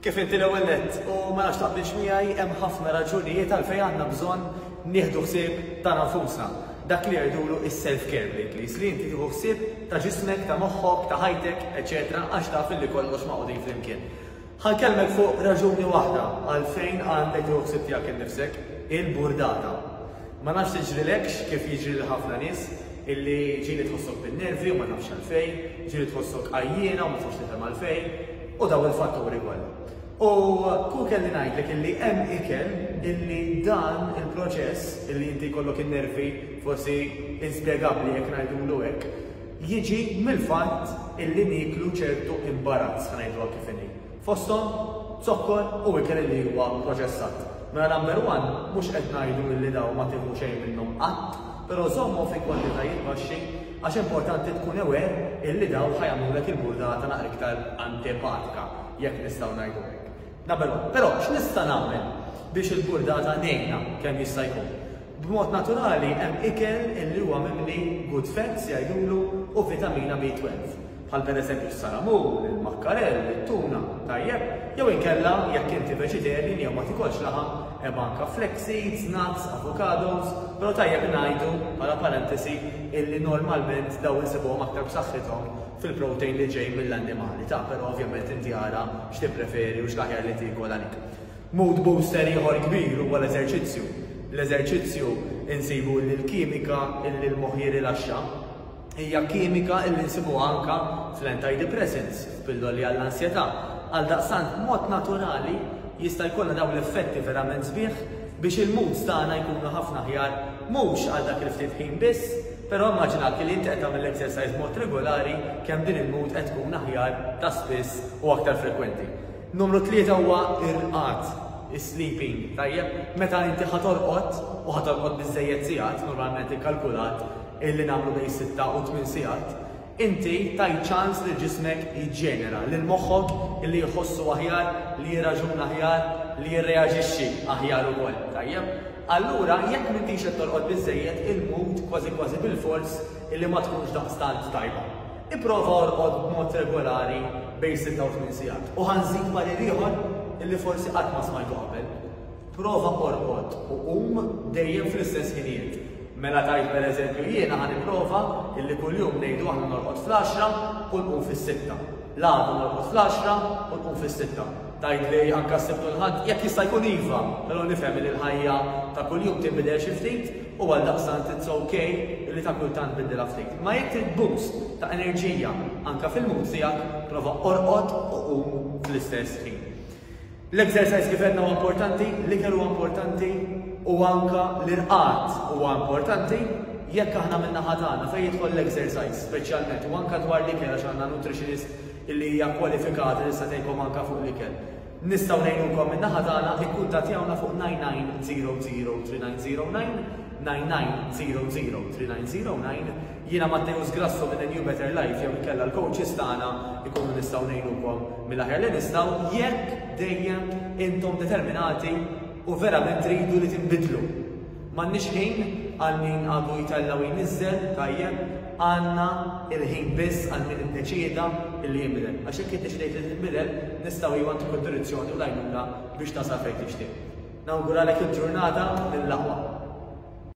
Kif inti l-ewwel nett u ma nafx taqbilx miegħi hemm ħafna raġunijiet għalfejn għandna bżonn nieħdu ħsieb tagħna nfusna. Dak li jgħidulu is-self care bl-Ingliż, li inti tieħu ħsieb ta' ġismek, ta' moħħok, ta' ħajtek, eċċetera, għax taf illi kollox magħqudin flimkien. Ħankellmek fuq raġuni waħda għalfejn għandek tieħu ħsieb tiegħek innifsek, il-burdata. Ma nafx tiġrilekx kif jiġri lil ħafna nies, illi ġieli tħossok bin-nervi u ma tafx għalfejn, ġieli tħossok għajjiena u ma tafx tifhem għalfejn, u dawn il-fatturi kollha. U kieku kelli ngħidlek illi hemm ikel illi dan il-proċess, illi inti jkollok in-nervi forsi inspjegabbli jekk ngħidulu hekk, jiġi mill-fatt illi nieklu ċertu imbarazz, ħa ngħiduha kif inhi. fosthom zokkor u ikel li huwa proċessat. Mela number one, mhux qed ngħidu illi dawn ma tieħu xejn minnhom qatt, però żommhom fi kwantitajiet baxxi għax importanti tkun aware illi dawn ħa jagħmlulek il-burdata naqra iktar antipatika, jekk nistgħu ngħidu hekk. Number one. Però x'nista' nagħmel biex il-burdata ngħinha kemm jista' jkun? B'mod naturali hemm ikel illi huwa mimli good fats jgħidulu u vitamina B12. bħal pereżempju s-salamun, il-makkarell, it-tuna, tajjeb, jew inkella jekk inti vegetarian jew ma tikolx laħam, hemm anke flax seeds, nuts, avocados, però tajjeb ngħidu, bħala parentesi, illi normalment dawn insibuhom aktar b'saħħithom fil-protein li ġej mill-annimali, ta' però ovvjament inti ara x'tippreferi u x'l-aħjar li tiekol għalik. Mood booster ieħor kbir huwa l-eżerċizzju. L-eżerċizzju insibu illi l-kimika illi l-moħħ jirilaxxa, hija kimika illi nsibuha anka fl-antidepressants, f'pilloli għall-ansjetà. Għaldaqstant, b'mod naturali, jista' jkollha dawn l-effetti verament sbieħ biex il-moods tagħna jkunu ħafna aħjar, mhux għal dak il-ftit ħin biss, però immaġina kelli inti qed tagħmel l-exercise b'mod regulari kemm din il-mood qed tkun aħjar ta' spiss u aktar frekwenti. Numru tlieta huwa r-rqad, is-sleeping, tajjeb? Meta inti ħa torqod, u ħa torqod biżżejjed sigħat, normalment ikkalkulat, li nagħmlu bejn sitta u tmien sigħat, inti tajt ċans lil ġismek jiġġenera, lil moħħok li jħossu aħjar, li jirraġuna aħjar, li jirreaġixxi aħjar ukoll, tajjeb? Allura, jekk m'intix qed torqod biżżejjed, il-mood kważi kważi bilfors li ma tkunx daqstant tajba. Ipprova orqod b'mod regolari bejn sitta u tmien sigħat. U ħa nżid parir ieħor li forsi qatt ma smajtu qabel. Prova qorqod u qum dejjem fl-istess ħinijiet. Mela tgħid pereżempju jiena ħa nipprova illi kuljum ngħidu aħna norqod fl-għaxra u nqum fis-sitta. L-għada norqod fl-għaxra u nqum fis-sitta. Tgħidli anke s-Sibt u l-Ħadd? Jekk jista' jkun iva, però nifhem illi l-ħajja ta' kuljum tinbidel xi ftit u għaldaqstant it's ok illi ta' kultant biddilha ftit. Imma jekk trid boost ta' enerġija anke fil-mood tiegħek, prova qorqod u qum fl-istess ħin. L-exercise kif għedna huwa importanti, l-ikel huwa importanti u anka l-irqad huwa importanti jekk aħna minna ħatana fejn jidħol l-exercise speċjalment u anka dwar l-ikel għax għandna nutritionist li hija kwalifikata li se tgħidkom anka fuq l-ikel. Nistgħu ngħinukom minna ħatana ikkuntattjawna fuq 9900 3909 9900 3909 Jiena Matteus Grasso minn A New Better Life jew inkella l-coaches tagħna jkunu nistgħu ngħinukom mill-aħjar li nistgħu jekk dejjem intom determinati u verament tridu li tinbidlu. M'għandniex ħin għal min għadu jtella' u jniżżel, tajjeb, għandna il-ħin biss għal min iddeċieda li jinbidel. Għax jekk iddeċidejt li tinbidel, nistgħu iva ntuk id-direzzjoni u l-għajnuna biex tasal fejn tixtieq. Nawguralek il-ġurnata mill-aqwa.